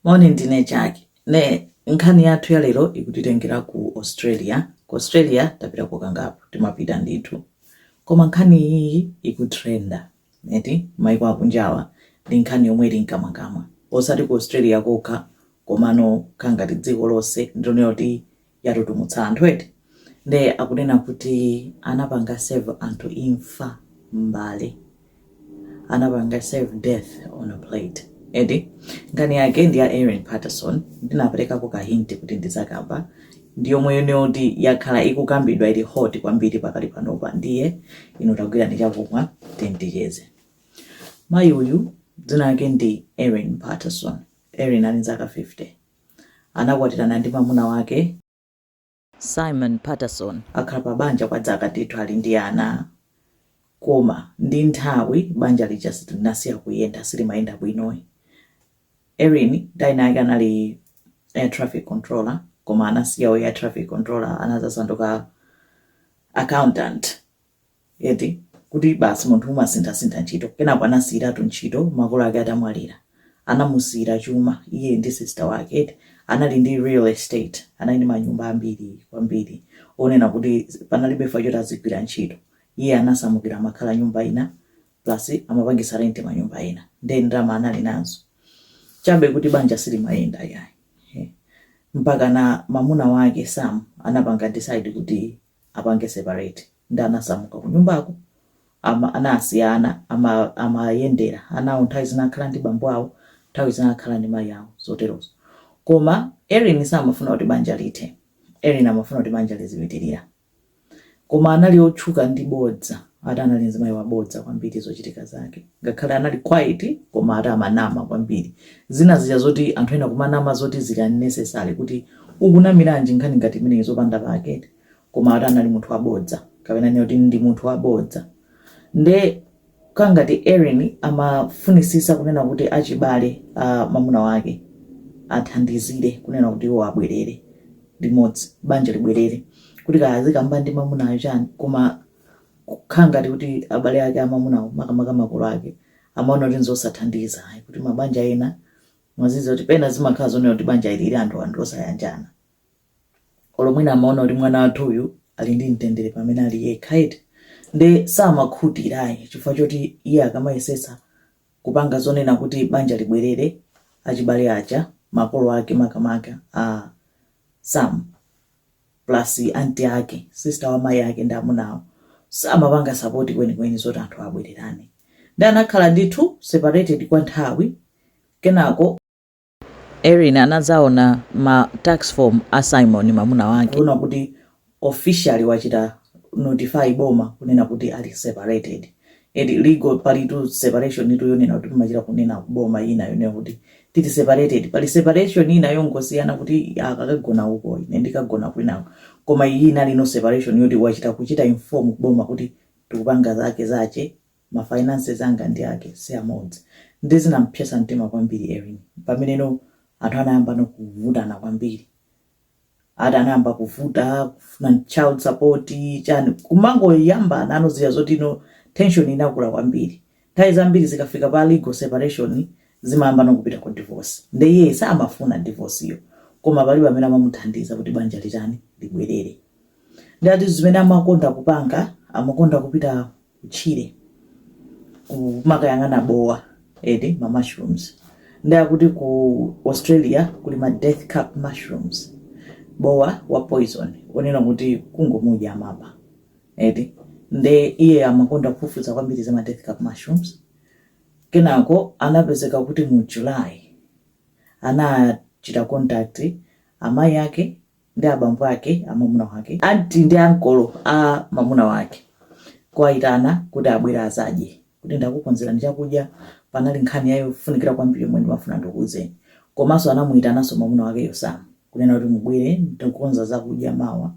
Moni ndine Jackie nde nkhani yathu ya lero ikutitengera ku Australia. Ku Australia tapitako kangapo, timapita ndithu. Koma nkhani iyiyi ikutrenda eti maiko akunjawa ndi nkhani yomwe ili mkamwamkamwa osati ku Australia kokha komano khala ngati dziko lonse ndilonena kuti yatutumutsa anthu eti nde akunena kuti anapanga serve anthu imfa m'mbale anapanga serve death on a plate eti nkhani yake ndi ya Erin Patterson ndinaperekako kahinti kuti ndizakamba ndi yomwe yonena zoti yakhala ikukambidwa ili hot kwambiri pakali panopa ndiye inu tagwirani chakumwa tiyeni ticheze mayi uyu dzina lake ndi Erin Patterson Erin ali nzaka 50 anakwatirana ndi mamuna wake. Simon Patterson. Akhala pa banja kwa dzaka ndithu ali ndi ana koma ndi nthawi banja lija linasiya kuyenda silimayenda bwinoyi. Erin ntchito yake anali air traffic controller koma anasiya u air traffic controller anazasanduka accountant eti kuti basi munthu umasinthasintha ntchito kenako anasiyiratu ntchito makolo ake atamwalira anamusiyira chuma iye ndi sister wake eti anali ndi real estate anali ndi manyumba ambiri kwambiri onena kuti panalibe chifukwa choti azigwira ntchito iye anasamukira amakhala nyumba ina plus amapangisa renti manyumba ena nde ndalama anali nazo chabe kuti banja silimayenda yayi mpaka na mamuna wake sam anapanga decide kuti apange separate nde anasamuka kunyumbako ama anasiyana ama amayendera anawo nthawi zina akhala ndi bambo awo nthawi zina akhala ndi mayi awo zoterozo koma Erin samafuna kuti banja lithe Erin amafuna kuti banja lizipitirira koma anali otchuka ndi bodza ati anali mzimayi wabodza kwambiri zochitika zake ngakhale anali quiet koma ati amanama kwambiri zina zija zoti anthu ena kumanama zoti zili unnecessary kuti ukunamiranji nkhani ngati imeneyi zopanda pake eti koma ati anali munthu wabodza kapena tinene kuti ndi munthu wabodza nde kangati Erin amafunisisa kunena kuti achibale a mamuna wake athandizire kunena kuti iwo abwerere limodzi banja libwerere kuti kaya azikamba ndi mamunayo chani koma Kukhala ngati kuti abale ake a mwamunawo, makamaka makolo ake, amaona kuti n'zosathandiza ayi kuti mabanja ena, mwazidziwa kuti pena zimakhala zonena kuti banja ili ili anthuwa ndi osayanjana. Olo mwina amaona kuti mwana wathuyu ali ndi mtendere pamene ali yekha eti, nde samakhutira ayi chifukwa choti iye akamayesetsa kupanga zonena kuti banja libwerere, achibale aja, makolo ake makamaka a Sam, plus anti ake, sister wa mayi ake ndi amuna awo, samapanga sapoti kwenikweni zoti anthu abwererane. Nde anakhala ndithu separated kwa nthawi, kenako. Erin anadzaona ma tax form a Simon, mamuna wake. Kuona kuti officially wachita notify boma kunena kuti ali separated. eti legal palitu separation itu yonena kuti timachita kunena kuboma ina yonena kuti tili separated pali separation ina yongosiyana kuti akakagona uko ine ndikagona kwina koma iyi inali no separation yoti wachita kuchita inform boma kuti tikupanga zake zache ma finances anga ndi ake si amodzi ndi zinampyesa mtima kwambiri Erin pamene no anthu anayamba no kuvutana kwambiri ati anayamba kuvuta kufuna child support chani kumangoyambana no zija zoti no tension inakula kwambiri nthawi zambiri zikafika pa legal separation zimayamba no kupita ku divorce nde iye samafuna divorce yo koma palibe amene amamuthandiza kuti banja litani libwerere ndi ati zimene amakonda kupanga amakonda kupita tchire kumakayang'ana bowa eti ma mushrooms nde akuti ku australia kuli ma death cap mushrooms bowa wa poison onena kuti kungomudya amapha eti nde iye amakonda kufufuza kwambiri za ma death cap mushrooms kenako anapezeka kuti mu july anachita contact amayi ake ndi abambo ake a mamuna wake, anti ndi ankolo a mamuna wake, kuwaitana kuti abwere azadye, kuti ndakukonzerani chakudya, panali nkhani ya yofunikira kwambiri yomwe ndimafuna ndikuuzeni. Komanso anamuitananso mamuna wakeyo Sam, kunena kuti mubwere ndikukonza zakudya mawa,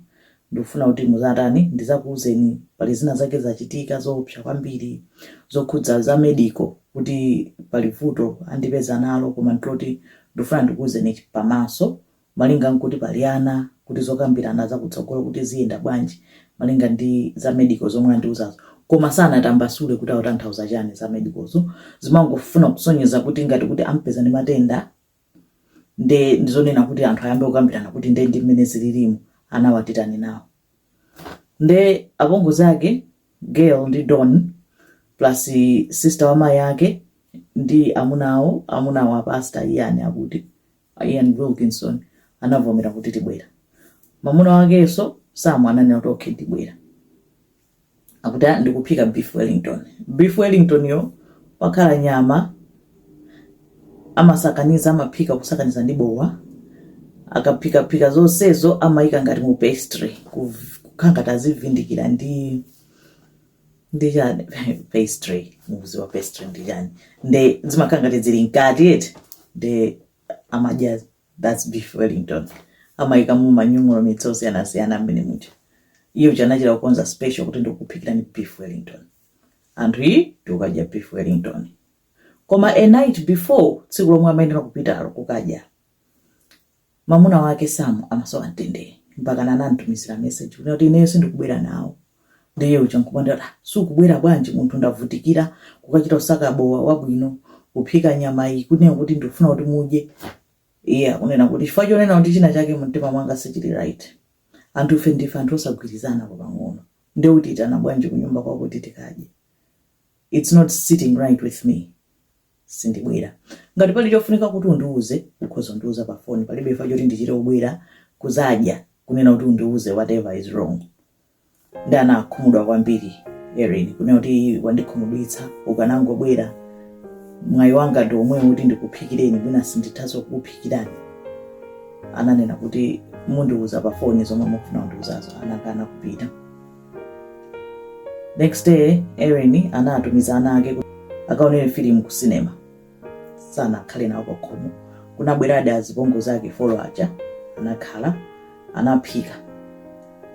ndikufuna kuti muzatani, ndizakuuzeni pali zina zake zachitika zoopsa kwambiri zokhudza za medical kuti pali vuto andipeza nalo koma ndiloti ndikufuna ndikuuzeni pamaso malinga nkuti pali ana, kuti zokambirana za kutsogolo kuti ziyenda bwanji malinga ndi za medical zomwe andiuzazo koma sanatambasule kuti autanthauza chani za medicalzo zimangofuna kusonyeza kuti ngati kuti ampeza ndi matenda nde ndizonena kuti anthu ayambe kukambirana kuti nde ndi mmene zililimu anawa titani nawo nde apongozi ake Gail ndi Don plus sister wa mayi ake ndi amuna awo amunawo a pastor Ian akuti a Ian Wilkinson anavomera kuti tibwera. Mamuna wakenso Sam ananena kuti okay ndibwera. Akuti "Ah, ndikuphika beef Wellington. Beef Wellington yo pakhala nyama amasakaniza amaphika kusakaniza ndi bowa akaphikaphika zonsezo amayika ngati mu pastry kuv- kukhala ngati azivindikira ndi ndi chani pastry mukuziwa pastry ndi chani nde zimakhala ngati zili mkati eti nde amadya thats beef wellington amayika mu manyung'ulo mitso osiyanasiyana mmene muja iye uja anachita kukonza special kuti ndikuphikirani beef wellington anthu iyi tikukadya beef wellington koma a night before tsiku lomwe amayenera kupita kukadya Mamuna wake Sam amasowa mtendere mpakana anamtumizira message kuti ineyo sindikubwera nawo ndiye uja nkumadandaula kuti ah sukubwera bwanji munthu ndavutikira kukachita kusaka bowa wabwino kuphika nyama iyi kunena kuti ndikufuna kuti mudye iye akunena kuti chifukwa chonena kuti china chake mumtima mwanga sichili right anthufe ndife anthu osagwirizana pa pang'ono nde ukutiitana bwanji kunyumba kwako kuti tikadye it's not sitting right with me sindibwera. Ngati pali chofunika kuti undiuze, ukhoza kundiuza pa phone. Palibe chifukwa choti ndichite kubwera kuzadya kunena kuti undiuze whatever is wrong. Nde anakhumudwa kwambiri Erin kunena kuti wandikhumudwitsa ukanangobwera mwayi wanga ndi omwewu kuti ndikuphikireni mwina sindithanso kukuphikirani ananena kuti mundiuza pa foni zomwe mukufuna kundiuzazo anakana kupita next day Erin anatumiza ana ake kuti akaonere filimu ku sinema sanakhale nawo pakhomo kunabweradi azipongozi ake folo aja anakhala anaphika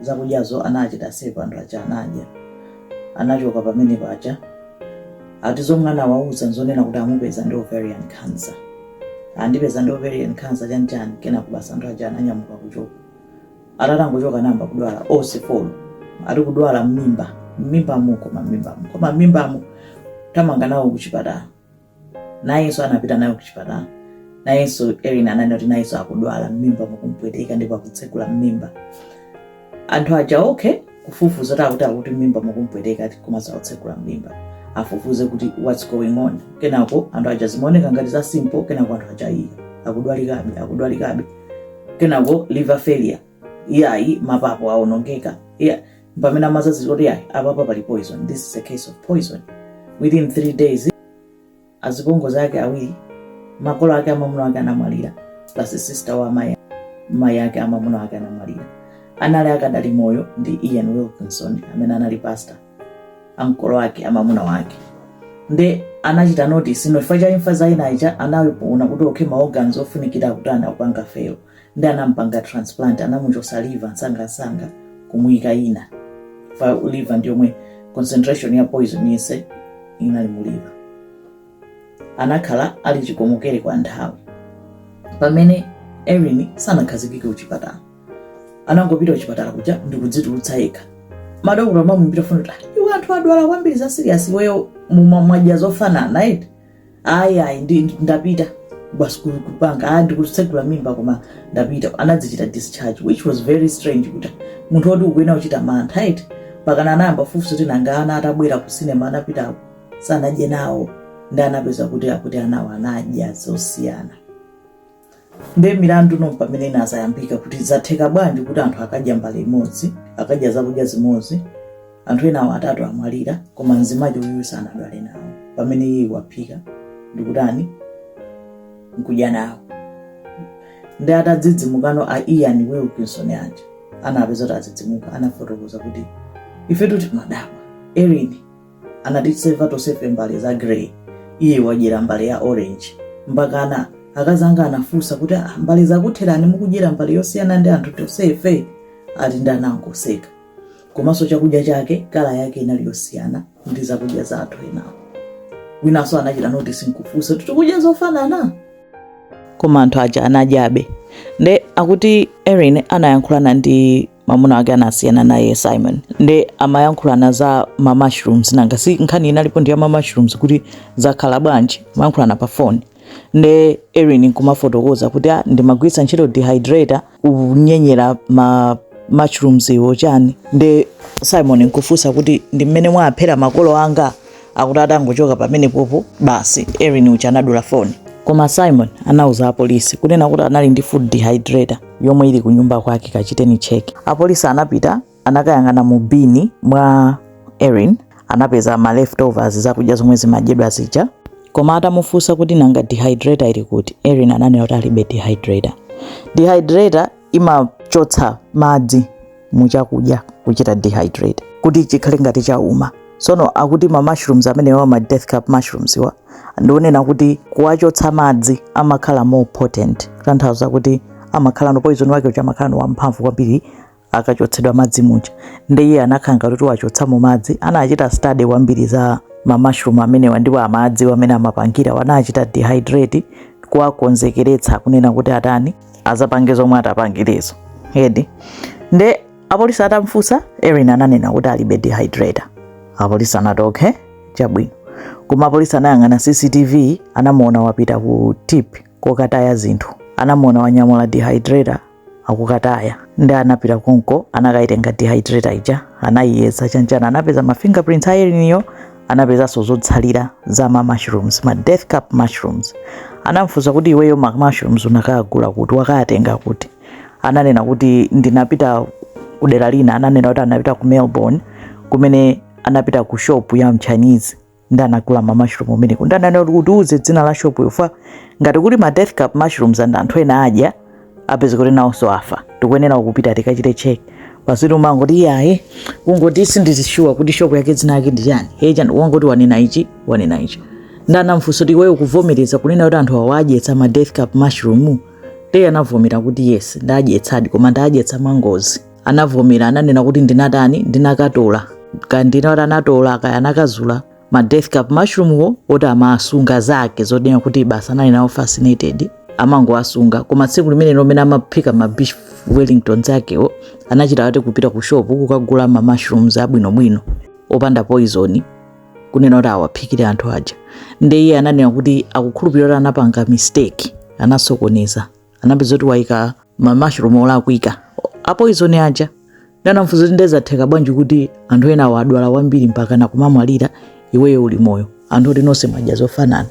zakudyazo anachita serve anthu aja anadya anachoka pamene paja ati zomwe anawauza nzonena kuti amupeza ndi ovarian cancer andipeza ndi ovarian cancer chanchani kenako basi anthu aja ananyamuka nkuchoka atangochoka anayamba kudwala onse folo ati kudwala mmimba mmimbamu koma mmimbamu koma mmimbamu tamanga nawo kuchipatala nayenso anapita naye kuchipatala nayenso Erin ananena kuti nayenso akudwala mmimba mukumpweteka ndipo akutsegula mmimba anthu aja okay kufufuza kuti akuti akuti mmimba mukumpweteka ati koma sakutsegula mmimba afufuze kuti what's going on kenako anthu aja zimaoneka ngati za simple kenako anthu aja iya akudwalikabe akudwalikabe kenako liver failure iyayi mapapo aonongeka iya pamene amazaziwa kuti iyayi apapa pali poison this is a case of poison within three days azipongozi ake awiri makolo ake amamuna ake anamwalira plus sister wa amayi mayi ake amamuna ake anamwalira anali akadali moyo ndi Ian Wilkinson amene anali pastor ankolo ake amamuna wake nde anachita notice chifukwa cha imfa za enawo zija anaona kuti okhe ma organs ofunikira kuti akupanga fail ndi anampanga transplant anamuchosa liver nsangansanga kumuyika ina fa liver ndi yomwe concentration ya poison yese inali mu liver anakhala ali chikomokere kwa nthawi pamene erin sanakhazikike kuchipatala anangopita kuchipatala kuja ndi kudzitulutsa yekha madokotala amamufunsa kuti "Ah, iwe anthu adwala kwambiri za serious iweyo mumamwadya zofanana eti ayi ayi ndi- ndi- ndapita basi ku- kupanga ah ndi kutsegula mmimba koma ndapita anadzichita discharge which was very strange kuti munthu woti ukuyenera kuchita mantha eti mpakana anayamba fufuso kuti nanga ana atabwera ku sinema anapitawo sanadye nawo ndi anapeza kuti anawo anadya zosiyana nde milandu ndi pamene inazayambika kuti zatheka bwanji kuti anthu akadya mbale imodzi akadya zakudya zimodzi anthu enawo atatu amwalira koma mzimayi uyu sanadwale nawo pamene iye waphika ndikutani nkudya nawo ndi atadzidzimukano a ian wilkinson aja atapezeka kuti adzidzimuka anafotokoza kuti ifetu timadabwa erin anatiseva tosefe mbale za grey iye wadyera mbale ya orange mpakana akazanga anafunsa kuti "Ah, mbale zakutherani mukudyera mbale yosiyana ndi anthu tosefe ati nde anangoseka komanso chakudya chake kala yake inali yosiyana ndi zakudya za anthu enawo winanso anachita notice nkufunsa kuti tikudya zofanana koma anthu aja anadyabe nde akuti erin anayankhulana ndi mamuna wake anasiyana naye Simon nde amayankhulana za ma mushrooms nanga si nkhani inalipo ndi ya ma mushrooms kuti zakhala bwanji amayankhulana pa phone nde Erin nkumafotokoza kuti ah, ndimagwiritsa ntchito dehydrator kunyenyera ma mushrooms iwo chani nde Simon nkufunsa kuti ndi mmene mwaphera makolo anga Akuti atangochoka pamenepopo basi Erin uja anadula foni. Koma Simon anauza apolisi kunena kuti anali ndi food dehydrator yomwe ili kunyumba kwake kachiteni check. Apolisi anapita anakayang'ana mu bini mwa Erin anapeza ma leftovers zakudya zomwe zimadyedwa zija koma atamufunsa kuti nanga dehydrator ili kuti Erin ananena kuti alibe dehydrator. Dehydrator imachotsa madzi mu chakudya kuchita dehydrate kuti chikhale ngati chauma sono akuti ma mushrooms amenewa ma death cap mushrooms wa ndi onena kuti kuwachotsa madzi amakhala more potent kutanthauza kuti amakhala no poison wake uja amakhala no wamphamvu kwambiri akachotsedwa madzi muja nde iye anakhala ngati kuti wachotsamo madzi anachita study kwambiri za ma mushroom amenewa ndipo amadziwa mmene amapangira anawachita dehydrate kuwakonzekeretsa kunena kuti atani azapange zomwe atapangirezo eti nde apolisi atamfunsa erin ananena kuti alibe dehydrator apolisi anati okay chabwino koma apolisi anayang'ana cctv anamuona wapita ku tip kokataya zinthu anamuona wanyamula dehydrator akukataya nde anapita konko anakaitenga dehydrator ija anayiyesa chanchana anapeza ma fingerprints a eriniyo anapezanso zotsalira za ma mushrooms ma death cap mushrooms anamfunsa kuti iweyo ma mushrooms unakagula kuti wakawatenga kuti ananena kuti ndinapita kudera lina ananena kuti anapita ku melbourne kumene anapita ku shop ya mchinese nde anagula ma mushroom kumeneko nde ananena kuti utiuze dzina la shopyo ifa ngati kuli ma death cap mushrooms and anthu ena adya apeza kuti nawonso afa tikuyenera kupita tikachite check basi amangoti iyaye kungoti sindili shuwa kuti shop yake dzina yake ndi chani iye chani wangoti wanena ichi wanena ichi nde anamfunsa kuti iweyo ukuvomereza kunena kuti anthu awo wadyetsa ma death cap mushroom eti anavomera kuti yes ndadyetsadi koma ndadyetsa mwangozi anavomera ananena kuti ndinatani ndinakatola kandina kuti anatola kaya anakazula ma death cap mushroomwo ati amasunga zake zonena kuti basi anali nawo fascinated amangowasunga koma tsiku limenelo mmene amaphika ma beef wellington zakewo anachita ati kupita ku shop kukagula ma mushrooms abwinobwino opanda poison kunena kuti awaphikire anthu aja nde iye ananena kuti akukhulupirira kuti anapanga mistake anasokoneza anapezeka kuti waika ma mushroom olakwika apoizoni aja nde anamufunsa kuti nde zatheka bwanji kuti anthu enawo adwala kwambiri mpaka ena kumwalira iweyo uli moyo anthu oti nonse mwadya zofanana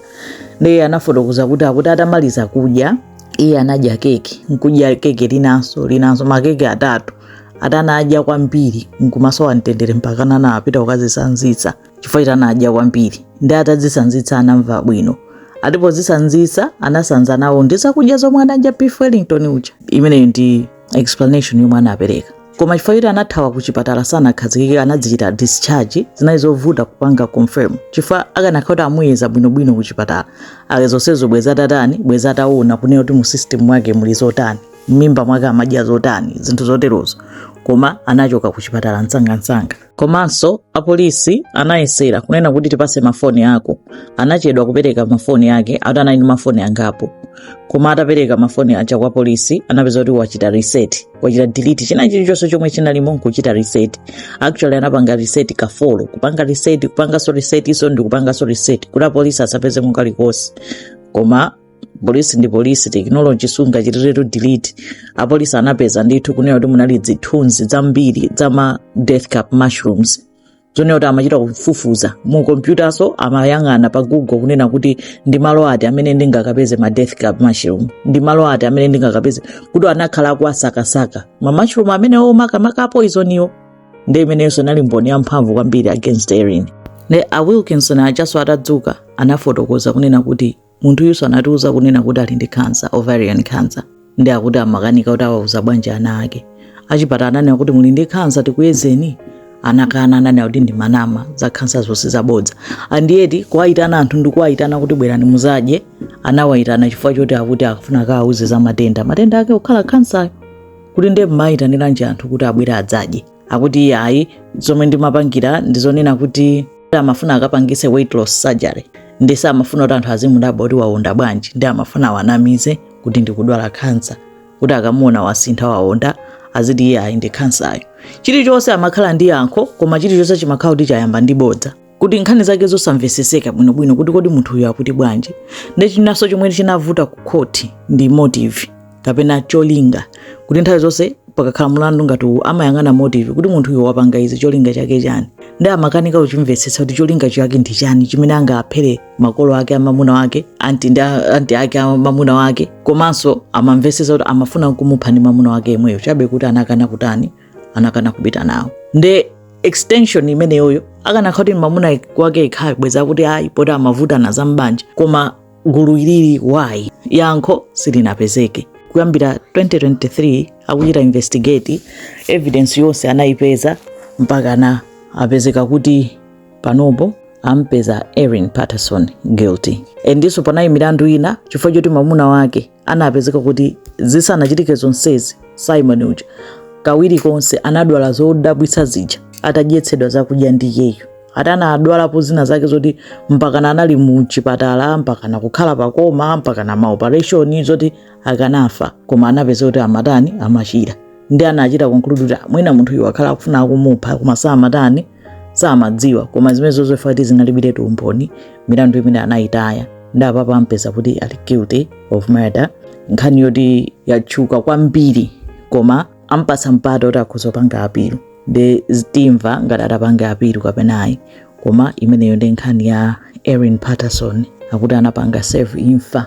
ndiye anafotokoza kuti akuti atamaliza kudya iye anadya keke nkudya keke linanso linanso makeke atatu ati anadya kwambiri nkumasowa mtendere mpaka kana anapita kukazisanzitsa chifukwa choti anadya kwambiri nde atadzisanzitsa anamva bwino ati pozisanzitsa anasanza nawo ndi zakudya zomwe anadya beef wellington uja imeneyo ndi explanation yomwe anapereka koma chifukwa choti anathawa ku chipatala sanakhazikike anadzichita discharge zinali zovuta kupanga confirm chifukwa akanakhala kuti amuyeza bwinobwino ku chipatala kaye zonsezo bweza atatani bweza ataona kunena kuti mu system mwake muli zotani m'mimba mwake amadya zotani zinthu zoterozo koma anachoka ku chipatala msangamsanga komanso apolisi anayesera kunena kuti tipase mafoni ako anachedwa kupereka mafoni ake ati anali ndi mafoni angapo koma atapereka mafoni aja kwa apolisi anapeza kuti wachita reset wachita delete china chilichonse chomwe chinalimo nkuchita reset actually anapanga reset ka four kupanga reset kupanganso resetiso ndi kupanganso reset kuti apolisi asapeze kalikonse koma polisi ndi polisi tekinoloji sungachitiretu delete apolisi anapeza ndithu kunena kuti munali zithunzi zambiri za ma death cap mushrooms zonena kuti amachita kufufuza mu kompyutanso amayang'ana pa google kunena kuti ndi malo ati amene ndingakapeze ma death cap mushroom ndi malo ati amene ndingakapeze kuti anakhala akuwasakasaka ma mushroom amenewo makamaka apoizoniwo ndi imeneyonso inali mboni yamphamvu kwambiri against erin ne a wilkinson aja so atadzuka anafotokoza kunena kuti Munthuyuso anatiuza kunena kuti ali ndi cancer, ovarian cancer. Nde akuti amakanika kuti awauza bwanji ana ake. Achipatala ananena kuti muli ndi cancer tikuyezeni. Anakana ananena kuti ndimanama za cancer zonse zabodza. And yet kuwaitana anthu ndikuwaitana kuti bwerani muzadye. Anawaitana chifukwa choti akuti akufuna akawauze za matenda. Matenda ake kukhala cancer kuti ndiye mumaitaniranji anthu kuti abwere adzadye. akuti iyayi zomwe ndimapangira ndi zonena kuti amafuna akapangise weight loss surgery nde samafuna kuti anthu azimudabwa kuti waonda bwanji nde amafuna awanamize kuti ndikudwala khansa kuti akamuona wasintha waonda aziti iyayi ndi khansayo chilichonse amakhala ndi yankho koma chilichonse chimakhala kuti chayamba ndi bodza kuti nkhani zake zosamveseseka bwinobwino kuti kodi munthu uyu akuti bwanji ndi chinaso chomwe chinavuta ku khoti ndi motive kapena cholinga kuti nthawi zonse pakakhala mulandu ngati uwu amayang'ana motive kuti munthu uyu wapanga izi cholinga chake chani nde amakanika kuchimvetsetsa kuti cholinga chake ndi chani chimene angaphere makolo ake amamuna wake anti ndi a- anti ake amamuna wake komanso amamvetsetsa kuti amafuna kumupha ndi mamuna wake yemweyo chabe kuti anakana kutani anakana kupita nawo nde extension imeneyoyo akanakhala kuti mamuna wake yekha bwezi kuti ayi poti amavutana za mbanja koma gulu ilili why yankho silinapezeke kuyambira 2023 akuchita investigate evidence yonse anayipeza mpaka na apezeka kuti panopo ampeza Erin Patterson guilty endiso panali milandu ina chifukwa choti mamuna wake anapezeka kuti zisanachitike zonsezi Simon uja kawiri konse anadwala zodabwitsa zija atadyetsedwa zakudya ndi iyeyo ati anadwalapo zina zake zoti mpakana anali mu chipatala mpakana kukhala pa coma mpakana maopereshoni zoti akanafa koma anapeza kuti amatani amachira nde anachita conclude kuti mwina munthuyu wakhala akufuna kumupha koma samatani samadziwa koma zimenezozo chifukwa choti zinalibiretu umboni milandu imeneyo anayitaya nde apapa ampeza kuti ali guilty of murder nkhani yoti yatchuka kwambiri koma ampasa mpata kuti akhoza kupanga apilu nde timva ngati atapange apilu kapenayi koma imeneyo ndi nkhani ya erin patterson akuti anapanga serve imfa